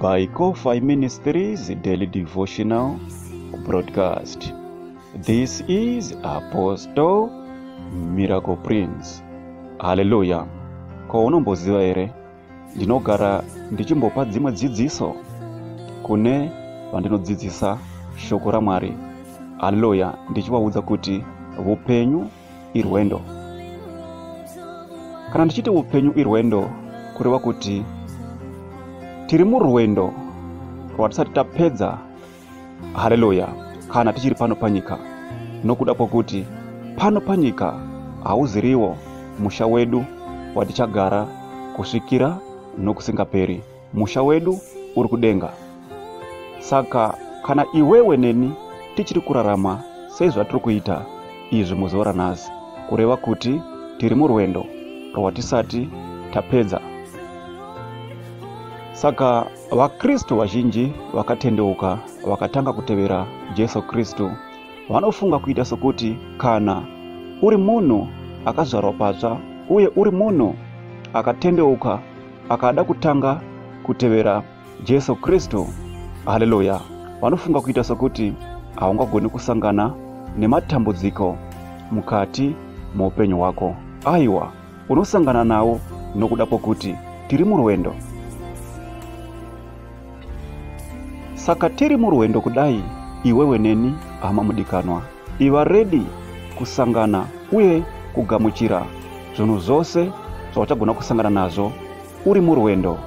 by Kofi Ministries Daily Devotional Broadcast. This is Apostle Miracle Prince. Hallelujah. Ko unomboziva here ndinogara ndichimbopa dzimwe dzidziso kune vandinodzidzisa shoko raMwari. Hallelujah. Ndichivaudza kuti vupenyu irwendo kana ndichiti upenyu irwendo kureva kuti tiri murwendo rwatisati tapedza haleluya kana tichiri pano panyika nokuda kwokuti pano panyika hauziriwo musha wedu watichagara kusvikira nokusingaperi musha wedu uri kudenga saka kana iwewe neni tichiri kurarama sezvatiri kuita izvi muzuva ranhasi kureva kuti tiri murwendo rwatisati tapedza saka vakristu vazhinji vakatendeuka vakatanga kutevera jesu kristu vanofunga kuita sokuti kana uri munhu akazvarwa patsva uye uri munhu akatendeuka akada kutanga kutevera jesu kristu haleluya vanofunga kuita sokuti haungagoni kusangana nematambudziko mukati muupenyu hwako aiwa unosangana nawo nokuda kwokuti tiri murwendo saka tiri murwendo kudai iwewe neni hama mudikanwa Iva redi kusangana uye kugamuchira zvinhu zvose zvauchagona kusangana nazvo uri murwendo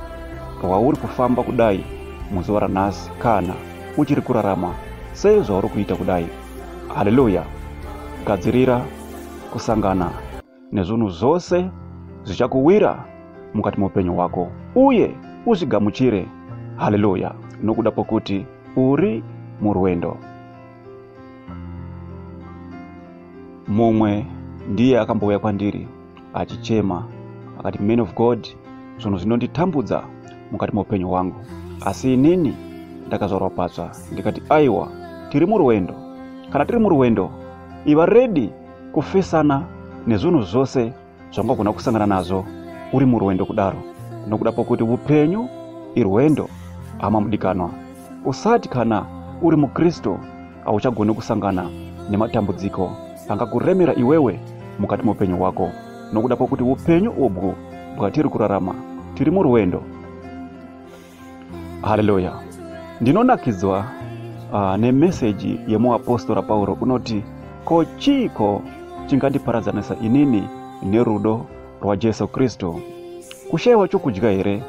rwauri kufamba kudai muzuva ranhasi kana uchiri kurarama sezvauri kuita kudai haleluya gadzirira kusangana nezvunhu zvose zvichakuwira mukati meupenyu hwako uye uzvigamuchire haleluya nokuda kwokuti uri murwendo mumwe ndiye akambouya kwandiri achichema akati man of god zvinhu zvinonditambudza mukati meupenyu hwangu asi inini ndakazvarwa patsva ndikati aiwa tiri murwendo kana tiri murwendo iva redi kufesana nezvinhu zvose zvangagona kusangana nazvo uri murwendo kudaro nokuda pokuti upenyu irwendo hama mudikanwa usati kana uri mukristu hauchagoni kusangana nematambudziko angakuremera iwewe mukati meupenyu hwako nokuda pokuti upenyu ubwu bwatiri kurarama tiri murwendo haleluya ndinonakidzwa uh, nemeseji yemuapostora pauro unoti ko chiiko chingandiparadzanisa inini nerudo rwajesu kristu kushayiwa chokudya here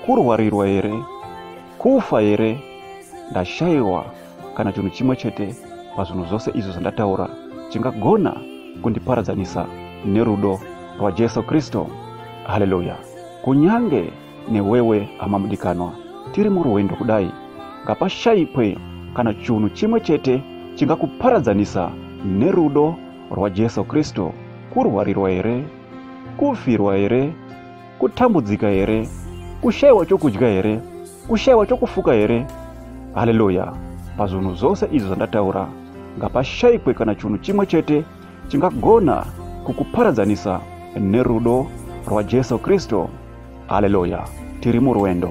kurwarirwa here kufa here ndashayiwa kana chinhu chimwe chete pazvinhu zvose izvo zvandataura chingagona kundiparadzanisa nerudo rwajesu kristu haleluya kunyange newewe hama mudikanwa tiri murwendo kudai ngapashaikwe kana chunhu chimwe chete chingakuparadzanisa nerudo rwajesu kristu kurwarirwa here kufirwa here kutambudzika here kushayiwa chokudya here kushayiwa chokufuka here haleluya pazvinhu zvose izvi zvandataura ngapashaikwe kana chunhu chimwe chete chingagona kukuparadzanisa nerudo rwajesu kristu haleluya tiri murwendo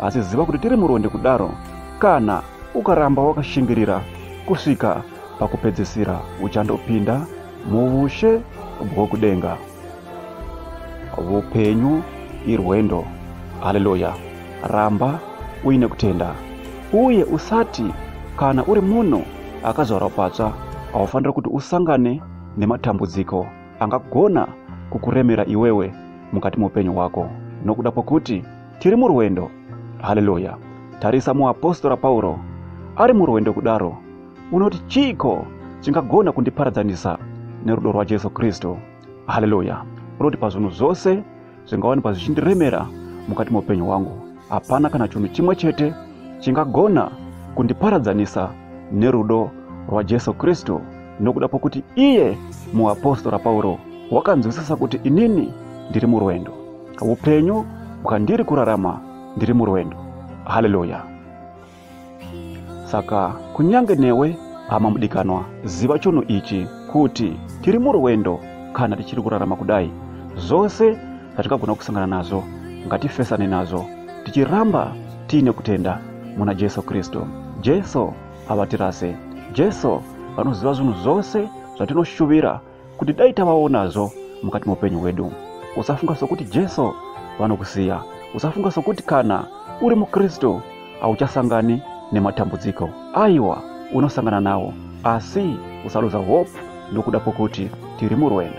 asi ziva kuti tiri murwendo kudaro kana ukaramba wakashingirira kusvika pakupedzisira uchandopinda muushe bwokudenga upenyu irwendo haleluya Ramba uine kutenda uye usati kana uri munhu akazvarwa patsva haufanira kuti usangane nematambudziko angagona kukuremera iwewe mukati meupenyu hwako nokuda kwokuti tiri murwendo haleluya tarisa muapostora pauro ari murwendo kudaro unoti chiiko chingagona kundiparadzanisa nerudo rwajesu kristu haleluya unoti pazvinhu zvose zvingawanikwa zvichindiremera mukati meupenyu hwangu hapana kana chinhu chimwe chete chingagona kundiparadzanisa nerudo rwajesu kristu nokuda kwokuti iye muapostora pauro wakanzwisisa kuti inini ndiri murwendo upenyu bwandiri kurarama ndiri murwendo haleluya saka kunyange newe hama mudikanwa ziva chunhu ichi kuti tiri murwendo kana tichiri kurarama kudai zvose zvatingagona kusangana nazvo ngatifesane nazvo tichiramba tiine kutenda muna jesu kristu jesu havatirase jesu vanoziva zvinhu zvose zvatinoshuvira kuti dai tavaonazvo mukati meupenyu hwedu usafunga sokuti jesu vanokusiya usafunga sokuti kana uri mukristu hauchasangani nematambudziko aiwa unosangana nawo asi usaluza hope nokuda kwokuti tiri murwendo